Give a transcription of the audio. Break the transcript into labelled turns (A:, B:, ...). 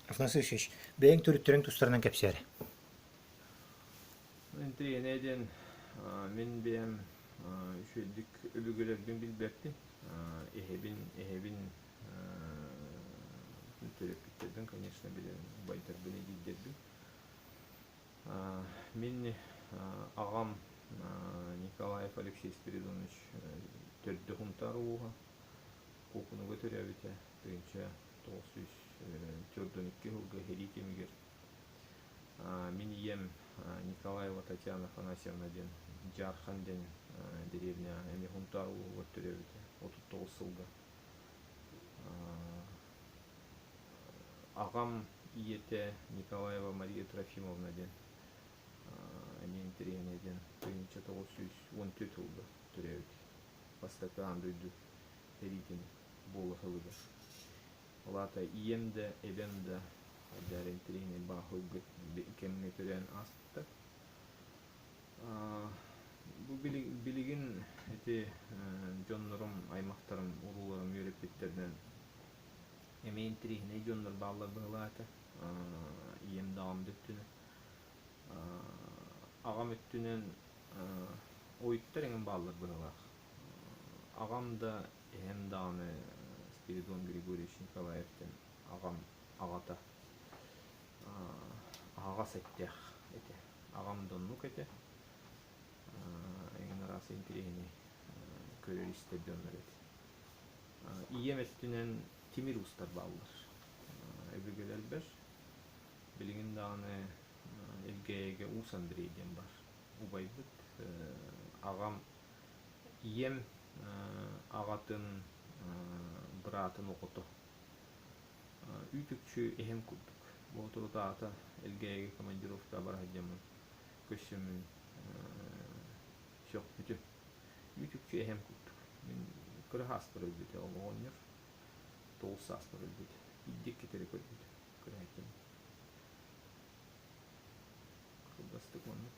A: Афанасий Ильич, бэйэҥ төрүттэрин тустарынан кэпсээрэ.
B: Интэйэнэ диэн мин бэйэм үчүгэйдик өбүгэлэрбин билбэппин. Эһэбин эһэбин төрөппүттэрбин, конечно, билэн байдарбын, эдийдэрбин. Мин аҕам Николаев Алексей Спиридонович төрдө Хунтаар улууһа Куукунуга төрөөбүтэ, тыынча тоҕус сүүс төрдөн икки сылга иһирии түмүгэр мин ийэм Николаева Татьяна Афанасьевна диэн Дьаархан диэн дэриэбинэ эмиэ Хунтаар улууһугар төрөөбүтэ отут тоҕус сылга аҕам ийэтэ Николаева Мария Трофимовна диэн эмиэ интэриэһинэй диэн тыһыынча тоҕус сүүс он төрт сылга төрөөбүт бастакы аан дойду иһирии түмүгэ буолуһалыгыр. Ол аата ийэм да, эбэм да хайдаар интириэһинэй бааһылгыт кэмҥэ көрөөн ааста. Бу билигин ити дьоннорум, аймахтарым, урууларым үөрэппиттэринэн эмиэ интириэһинэй дьоннор бааллар быһылаата. Ийэм да аҕам да өттүнэн. Аҕам өттүнэн ойуттар эҥин бааллар быһылаах. Аҕам да Эһэм даҕаны Спиридон Григорьевич Николаевтыын аҕам аҕата аһаҕас эттээх этэ. Аҕам да оннук этэ. Эҥин араас интэриэһинэй көрөр-истэр дьоннор этэ. Ийэм өттүнэн тимир уустар бааллар. Өбүгэлэр элбэр. Билигин даҕаны Элгээйигэ Уус Андрей диэн бар убайбыт. Аҕам ийэм аҕатын быраатын оҕото үүт-үкчү эһэм курдук боотурутаата элгээйигэ командировкаҕа бара сылдьаммын көрсөммүн сөхпүтүм үүт-үкчү эһэм курдук мин кыра сааспар өлбүтэ оҕоҕонньор тоҕус сааспар өлбүт биирдик кэтэри көрбүт кыраайкам кылгастык маннык